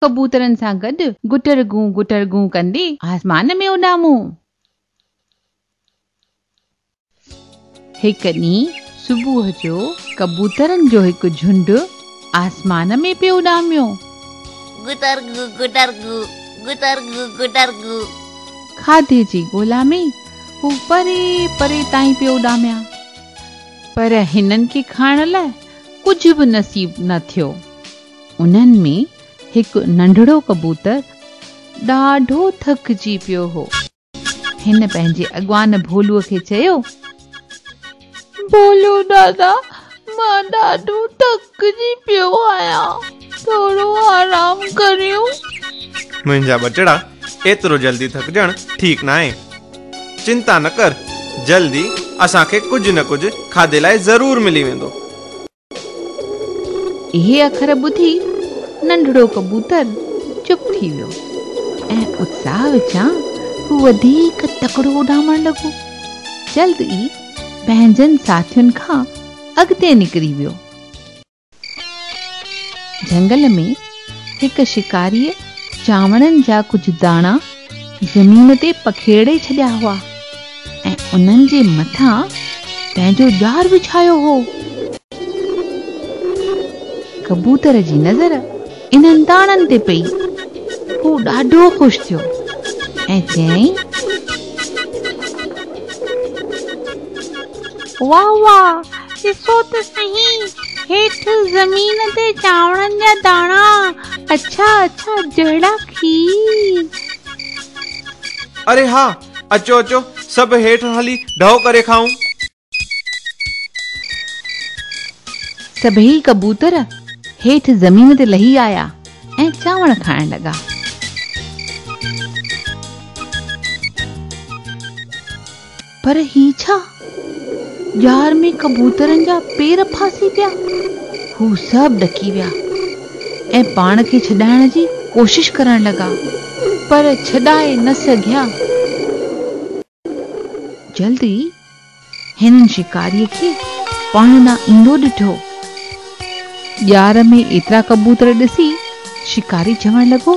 ڪبوترن سان گڏ گٽر گون گٽر گون ڪندي آسمان ۾ اڏامون. هڪ ڏينهن صبح جو ڪبوترن جو هڪ جهنڊ آسمان ۾ پيو اڏاميو. گٽر گون گٽر گون گٽر گون گٽر گون. کاڌي جي ڳولا ۾. هو پري پري تائين پيو اڏاميان پر هنن کي کائڻ لاء ڪجهه به نصيب نه ٿيو. انهن ۾ هڪ ننڍڙو ڪبوتر ڏاڍو ٿڪجي پيو هو. هن پنهنجي اڳواڻ ڀولوء کي چيو. ڀولو دادا مان ڏاڍو ٿڪجي پيو آهيان ٿورو آرام ڪريون. منهنجا ٻچڙا ايترو جلدي ٿڪجڻ ٺيڪ ناهي چنتا نه ڪر جلدي اسان کي ڪجهه نه ڪجهه کاڌي لاء ضرور ملي ويندو. اهي اکر ٻڌي ننڍڙو ڪبوتر چپ ٿي ويو ۽ اتساهه وچان هو وڌيڪ تڪڙو اڏامڻ لڳو جلد ئي پنهنجن ساٿين کان اڳتي نڪري ويو جهنگل ۾ هڪ شڪاريء چانورن جا ڪجهه داڻا زمين تي پکيڙي ڇڏيا هئا ۽ انهن جي مٿان پنهنجو ڄار وڇايو هو. ڪبوتر جي نظر انهن داڻن تي پئي. هو ڏاڍو خوش ٿيو ۽ چيائين. واه واه ڏسو ته سهي هيٺ زمين تي چانورن جا داڻا اڇا اڇا جهڙا کير اري ها اچو اچو سڀ هيٺ هلي ڍؤ ڪري کائون. سڀيئي ڪبوتر هيٺ زمين تي لهي آيا ۽ چانور کائڻ لڳا. پر هي ڇا؟ ڄار ۾ ڪبوترن جا پير ڦاسي پيا. هو سڀ ڏڪي ويا ۽ پاڻ کي ڇڏائڻ جي ڪوشش ڪرڻ لڳا، پر ڇڏائي نه سگهيا. جلد ئي هنن شڪاريء کي پاڻ ڏانهن ايندو ڏٺو. ڄار ۾ ايترا ڪبوتر ڏسي شڪاري چوڻ لڳو.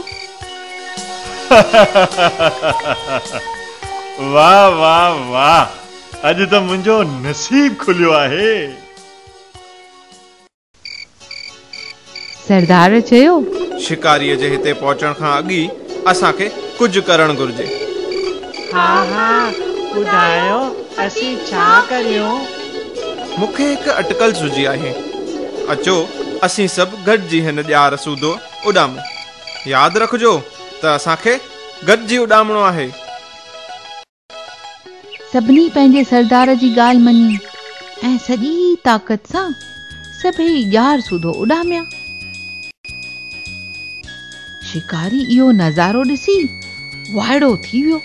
واھ واھ واھ اڄ ته منهنجو نصيب کليو آهي. سردار چيو. شڪاريء جي هتي پهچڻ کان اڳ ئي اسان کي ڪجهه ڪرڻ گهرجي. ها ها ٻڌايو اسين ڇا ڪريون؟ مون کي هڪ اٽڪل سجهي آهي. اچو اسين سڀ گڏجي هن ڄار سوڌو اڏامون. ياد رکجو ته اسان کي گڏجي اڏامڻو آهي. سڀني پنهنجي سردار جي ڳالهه مڃي ۽ سڄي طاقت سان سڀيئي ڄار سوڌو اڏاميا. شڪاري اهو نظارو ڏسي وائڙو ٿي ويو.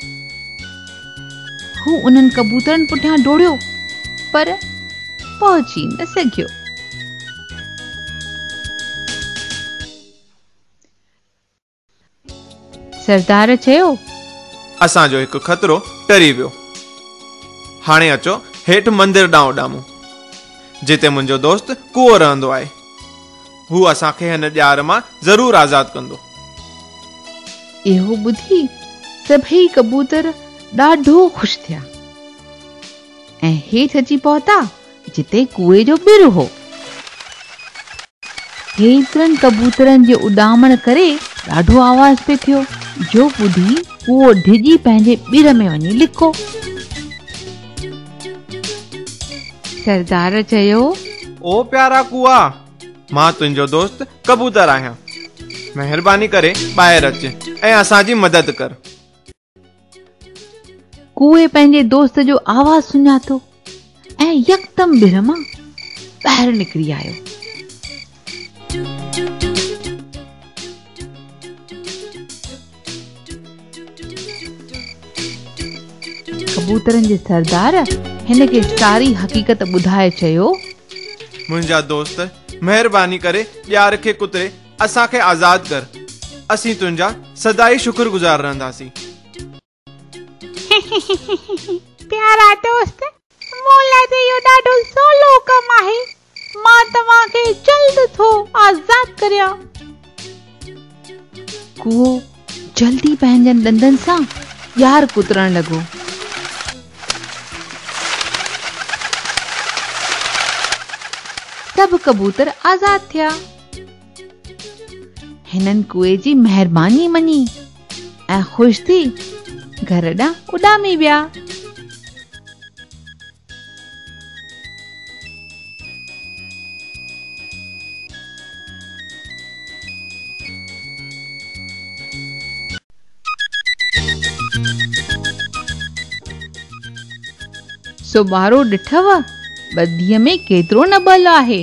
هو انهن ڪبوترن پٺيان ڊوڙيو پر پهچي نه سگهيو. سردار چيو. اسان جو هڪ خطرو ٽري ويو. هاڻي اچو هيٺ مندر ڏانهن اڏامون. جتي منهنجو دوست ڪوئو رهندو آهي. هو اسان کي هن ڄار مان ضرور آزاد ڪندو. اهو ٻڌي سڀئي ڪبوتر ڏاڍو خوش ٿيا ۽ هيٺ اچي پهتا. جتي ڪوئي جو ٻر هو. هيترن ڪبوترن جي اڏامڻ ڪري ڏاڍو آواز پئي ٿيو، جو ٻڌي ڪوئو ڊڄي پنهنجي ٻر ۾ وڃي لڪو. سردار چيو. او پيارا ڪوئا، مان تنهنجو دوست ڪبوتر آهيان. مهرباني ڪري ٻاهر اچ ۽ اسان جي مدد ڪر. ڪوئي پنهنجي دوست جو آواز سڃاتو ۽ يڪدم ٻر مان ٻاهر نڪري آيو ڪبوترن جي سردار هن کي ساري حقيقت ٻڌائي چيو منهنجا دوست مهرباني ڪري ڄار کي ڪتري اسان کي آزاد ڪر اسين تنهنجا سدائين شڪر گذار رهنداسين. پيارا دوست مون لاء ته اهو ڏاڍو سولو ڪم آهي مان توهان کي جلد ٿو آزاد ڪريان. ڪوئو جلد ئي پنهنجن ڏندن سان ڄار ڪترڻ لڳو. سڀ ڪبوتر آزاد ٿيا. هنن ڪوئي جي مهرباني مڃي ۽ خوش ٿي گهر ڏانهن اڏامي ويا سو ٻارو ڏٺو ٻڌيء ۾ ڪيترو نه بل آهي